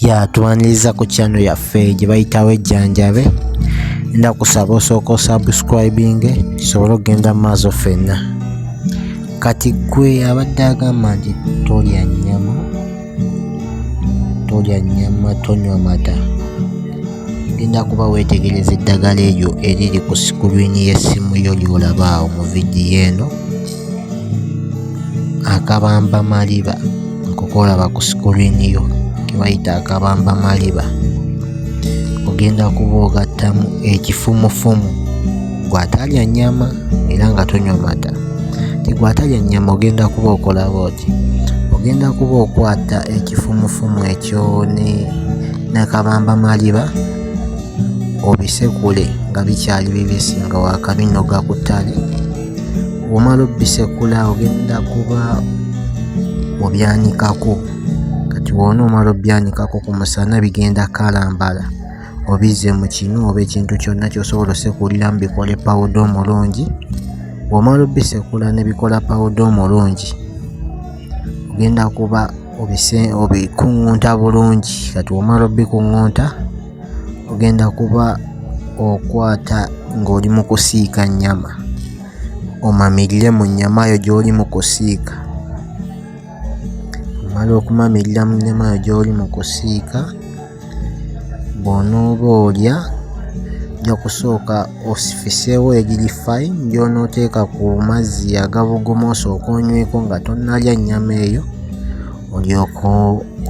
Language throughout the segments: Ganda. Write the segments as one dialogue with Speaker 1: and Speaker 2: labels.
Speaker 1: ya tuwaniriza ku kyano yaffe gye bayitawo ejjanjabe nda kusaba osooka osubscribinge tusobole okugenda mu maaso ffenna kati gwe abadde agamba nti tolya nnyama tolya nnyama tonywa mata genda kuba weetegereza eddagala eryo eriri ku sikulwini y'essimu yo ly'olabaawo mu vidiyo eno akabamba maliba nkokolaba ku sikuliini yo kebayita akabamba maliba ogenda kuba ogattamu ekifumufumu gwatalya nnyama era nga tonywa mata tigwatalya nnyama ogenda kuba okola booti ogenda kuba okwata ekifumufumu ekyo ne nakabamba maliba obisekule nga bikyali bibisi nga wakabinoga ku ttale womala obisekula ogenda kuba obyanikako kati wona omala obyanikako ku musana bigenda kalambala obizze mu kinu oba ekintu kyonna kyosobola osekuliramu bikole pawuda omulungi womala obisekula nebikola pawuda omulungi ogenda kuba obikuŋŋunta bulungi kati womala obikuŋŋunta ogenda kuba okwata ng'oli mu kusiika nnyama omamirire mu nnyama yo gy'oli mu kusiika omala okumamirira mu nnyama yo gy'oli mu kusiika bw'onooba olya ojja kusooka osifiseewo egiri fai gy'onooteeka ku mazzi agabuguma osooka onyweko nga tonnalya nnyama eyo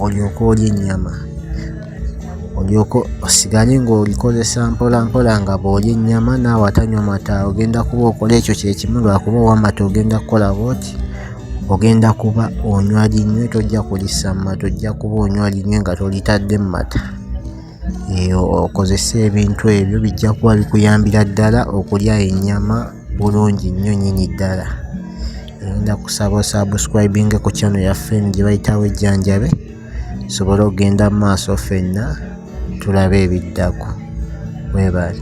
Speaker 1: olyoke olye ennyama olyoke osigale ng'olikozesa mpola mpola nga bw'olya ennyama naawe atanywa mata ogenda kuba okola ekyo kyekimu lwakuba owamata ogenda kukola bwoti ogenda kuba onywa linywe tojja kulisa mu mata ojja kuba onywa linywe nga tolitadde mu mata eyo okozesa ebintu ebyo bijja kuba bikuyambira ddala okulya ennyama bulungi nnyo nyini ddala ogenda kusaba osubscribinge ku channel yaffe eno gye bayitawo ejjanjabe tusobole okugenda mu maaso ffenna tulabe ebiddako. Weebale.